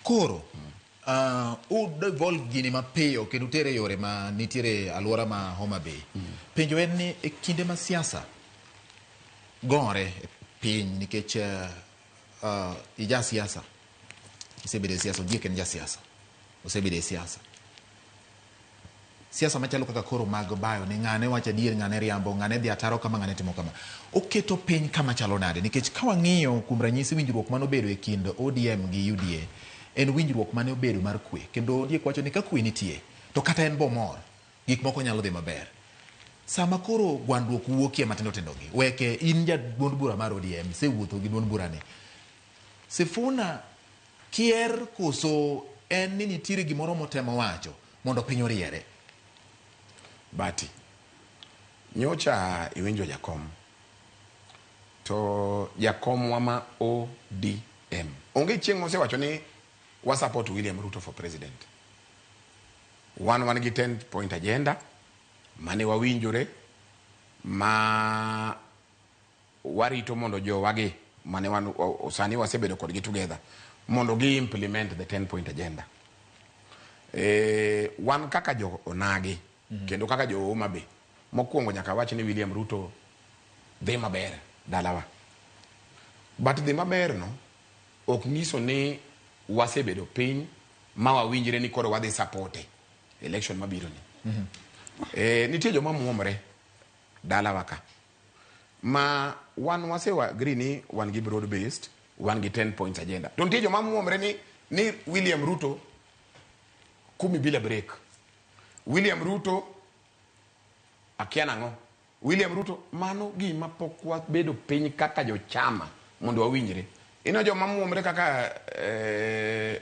Koro uh, u devolve gini mapiyo kendo utere yore ma nitiere alwora ma Homa Bay. Mm. Penjo en ni e kinde ma siasa gore e piny nikech uh, uh, ija siasa isebedo e siasa, Ondiek en ja siasa, osebedo e siasa siasa machalo kaka koro mag bayo ni ng'ane wacho adier ng'ane riambo ng'ane dhi ataro kama ng'ane timo kama oketo piny kama chalo nade nikech ka wang'iyo kuom ranyisi winjruok mane obedo e kind odm gi uda en winjruok mane obedo mar kwe kendo ondiek wacho ni ka kwe nitie to kata en bomor gik moko nyalo dhi maber sama koro gwandruok wuokie matindo tindogi weke in ja duond bura mar odm sewuotho gi duond burani sifuna Kier koso en ni nitiere gimoro motemo wacho mondo piny oriere. Bati, nyocha iwinjo jakom to jakomwa ma ODM onge chieng' mosewacho ni wa support William Ruto for president. Wan wan gi 10 point agenda mane wawinjore ma Warito mondo jowagi mane wan sani wasebedo kodgi together mondo gi implement the 10 point agenda. E, wan kaka jo onagi mm -hmm. kendo kaka jo Homa Bay mokwongo nyaka wach ni William Ruto dhi maber dalawa. But dhi maber no ok nyiso ni wasebedo piny ma wawinjre ni koro wadhi sapote election mabiro ni. Mm -hmm. E, nitie joma muomre dalawa ka. ma wan wase agree ni wan gi broad based, wan gi 10 points agenda. To nitie joma muomre ni ni William Ruto kumi bila break. William Ruto akia nang'o. William Ruto mano gima pok wabedo piny kaka jochama mondo wawinjre. Ino joma muomre kaka eh,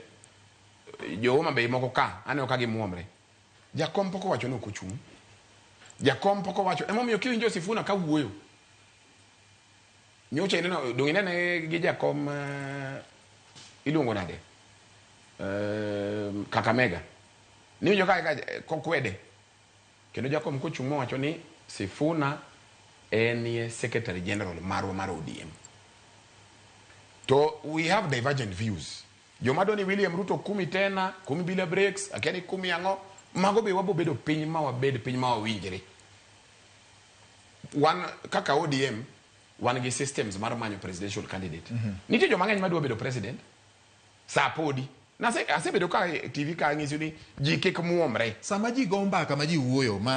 jo Homa Bay moko ka aneno ka gimuomre. Jakom pok owacho ni ok ochung'. Jakom pok owacho. Emomiyo kiwinjo Sifuna ka wuoyo. Nyocha ineno donge inene gi jakom uh, iluongo nade? Uh, Kakamega. Niwinjo ka ka kokwede. Kendo jakom kochung' mowacho ni Sifuna en ye secretary general marwa mar ODM. To we have divergent views. Joma dwani William Ruto kumi tena, kumi bila breaks, akia ni kumi ang'o, mago be wabo bedo piny ma wabed piny ma wawinjre. Wan kaka ODM, wan gi systems mar manyo presidential candidate. Mm -hmm. Nitie joma ng'eny madwa bedo president, saa podi. Nase, asebedo ka TV ka ang'isi ni ji kik muomre. Sama ji go mbaka ma ji wuoyo, ma